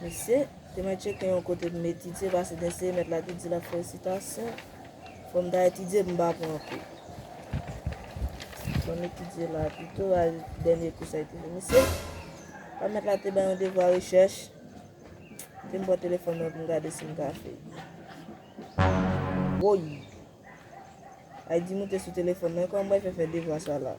Mesye, te mwen tcheke yon kote pou m etidye pase gen se mèt la ki di l ap fè resitasyon. Fò m ta etidye pou m pa pran kou. Fò m etidye la pito, a dènye kou sa yo te fè. Mesye, lè mèt la te bay yon devwa rechèch, te m pran telefòn mwen pou m gade si m ka fè l. Woy! Aydi moute sou telefòn nan, kòman mwen fè fè devwa sa la?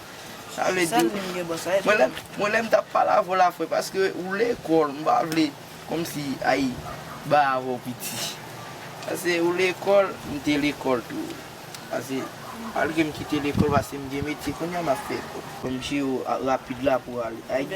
Sa vle di Mwen lè Mwen lè m tap pale avè w la fre paske ou lekòl m pa vle kòm si ay ba avè w piti pase ou lekòl m te lekòl tou pase malgre m kite lekòl pase m gen metye kounya m ap fè kòb. Msye rapid la pou ale Ayiti.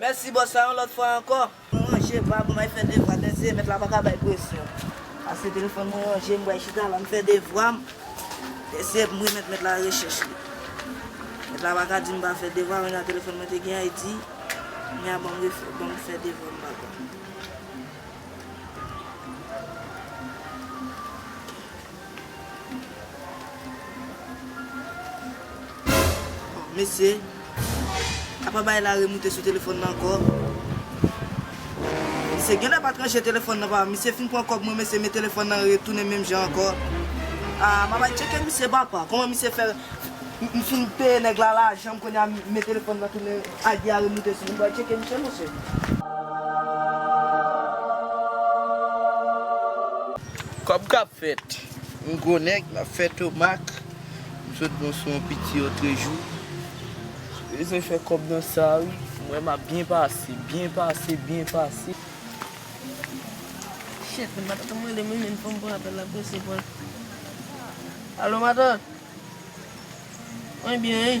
Mèsi bòs la yon lòt fwa ankò. Mwen ranje bab mwen fè devwa tèt se mèt la paka bay presyon. Pase telefòn mwen ranje m bway chita la m fè devwa m tèt se m remèt mèt la rechèch li mèt la paka di m pa fè devwa mwen nan telefòn mwen te gen an e di kounye a banm refè banm fè devwa m pa konn. Bon mesye apa bay la remoute sou telefòn nan ankò Misye genlè pat ranje telefòn nan papa misye fin pran kòb mwen mesye men telefòn nan retounen menm jan ankò Aa map al tcheke misye papa kòman misye fè m fin peye nèg la lajanm kounya men telefòn nan tounen ID a remoute sou li m pral tcheke misye mesye. Kob kap fet yon gwo neg lap fe tomak. M sot bon sou yon piti otrejou. Beze fe kob nan sa wi. M we map byen pase, byen pase, byen pase. Shit men matant anm rele m wi men fom pran apel la prese pran. Alo matant? Mwen byen wi.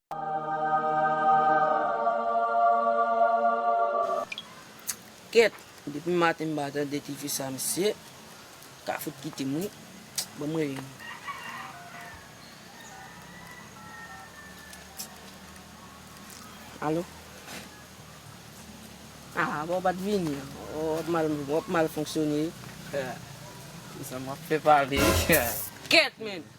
Kèt depi maten m pa tande ti fi sa mesye ka fout kitem wi banm rele nou. Alo Ahh bon w pat vini ou ap mal fonksyone wi. Ahh se sa map fè pale wi. Kèt menn.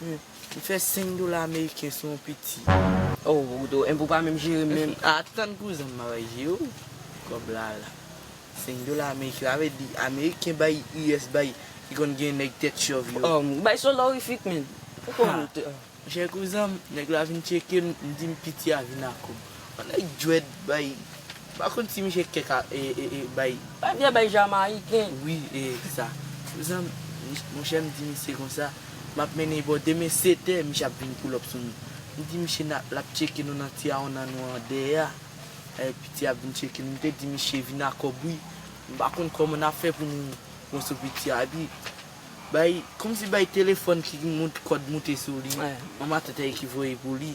M fè 5 dola ameriken sou yon piti. Oh Rudo, enpe w pa menm jere menm. Atann kouzen m ap jere w kòb la la. 5 dola ameriken sa vle di ameriken bay US bay ki konn gen nèg tèt chòv yo. Oh m bay solorifik menn. Ou konn ou te. Chè kouzen m, nèg la vin tcheke m, m di m piti a vin ak ou. Nèg dread bay m pa konn si misye kèk a bay. Bay vye bay jamayiken. Wi e sa. Mezanmi monchè m di misye konsa m ap mennen bò demen setè misye ap vin poulòp sou nou. M di misye n ap l ap tcheke nou nan ti awonan nou an dèyè a. Piti a ap vin tcheke nou. M te di misye vin a kòb wi. M pa konn kòman n ap fè pou nou pran sou piti a. Epi bay kòmsi bay telefòn ki gen kòd moute sou li. Manman Tètèy ki voye pou li.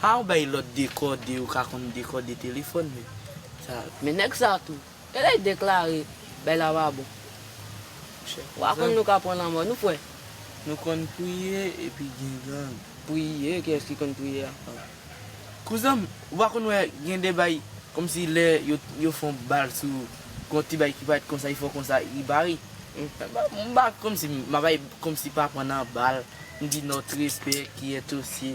Pa ou bay lot dekode ou ka konn dekode telefon men sa. Men nèg sa tou. Elèy deklare bay la pa bon. Monchè. Wa konn nou ka pran lanmò nou kwè. Nou konn priye epi gen gang. Priye kiyès ki konn priye ak gang. Kouzanm ou pa konn wè gen de bay komsi lè yo fon bal sou ou gon ti bay ki paret konsa li fè w konsa li bare m pa komsi m bay komsi pa pran nan bal m di nòt respè kiyè tosye.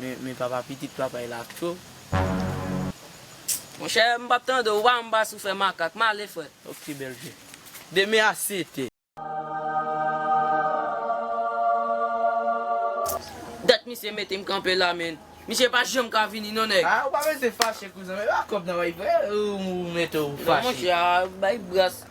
Men papa pitit papay la ak cho Pst. Monchè m pap tande w ou pa wè m pa sou fè makak. M ale frè. Ok bèl je. Demen a 7 è. Dat misye mete m kanpe la men. Misye pa janm ka vini non nèg. Ou pa bese fache kouzen m. E pa kòb nan bay frè. Ou mete w fache. Non monchè a bay bras.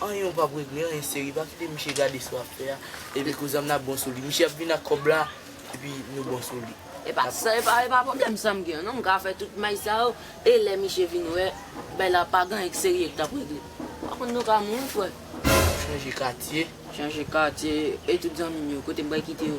Anyen ou pap regle anyen seri pa kite miche gade sa wap fè a epi kouzan mnap bon sou li miche ap vin ak kòb la epi nou bon sou li. Epa sa epa epa problèm sam gen an non mka fè tout may sa yo e lè miche vin wè bay la pa gen anyen k serye k tap regle pa konn nou ka mouri frè. Map chanje katye. Chanje katye e tout zanmim yo kote m pral kite yo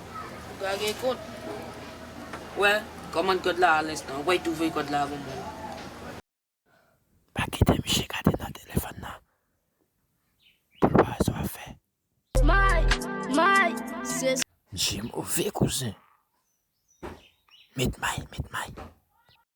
Ou ka gen kont. Wè, kòmand kòd la alenstan. Ou pway tou voye kòd la avèm menm. Pa kite miche gade nan telefòn nan poul pa wè sa wap fè. May! May! Se. Misye move kouzen. Met may, met may.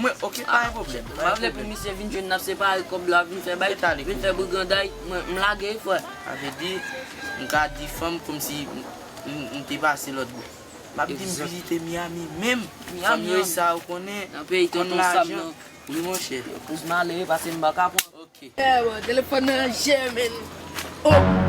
Mwen ok pa gen pwoblèm. M pa vle pou misye vin jwenn n ap separe kòb la vin fè bay, vin fè briganday. M lage wi frè. Sa vle di m ka di fanm kòmsi m te pase lòtbò. M ap di m vizite Miyami menm. Fanm yo e sa yo konnen. Nan peyi tonton Sam nan. Kòm lajan. Wi monchè. Yo plis malere pase m pa ka pran. Ok. Eeh bon telefòn nan an je menn. Ohh.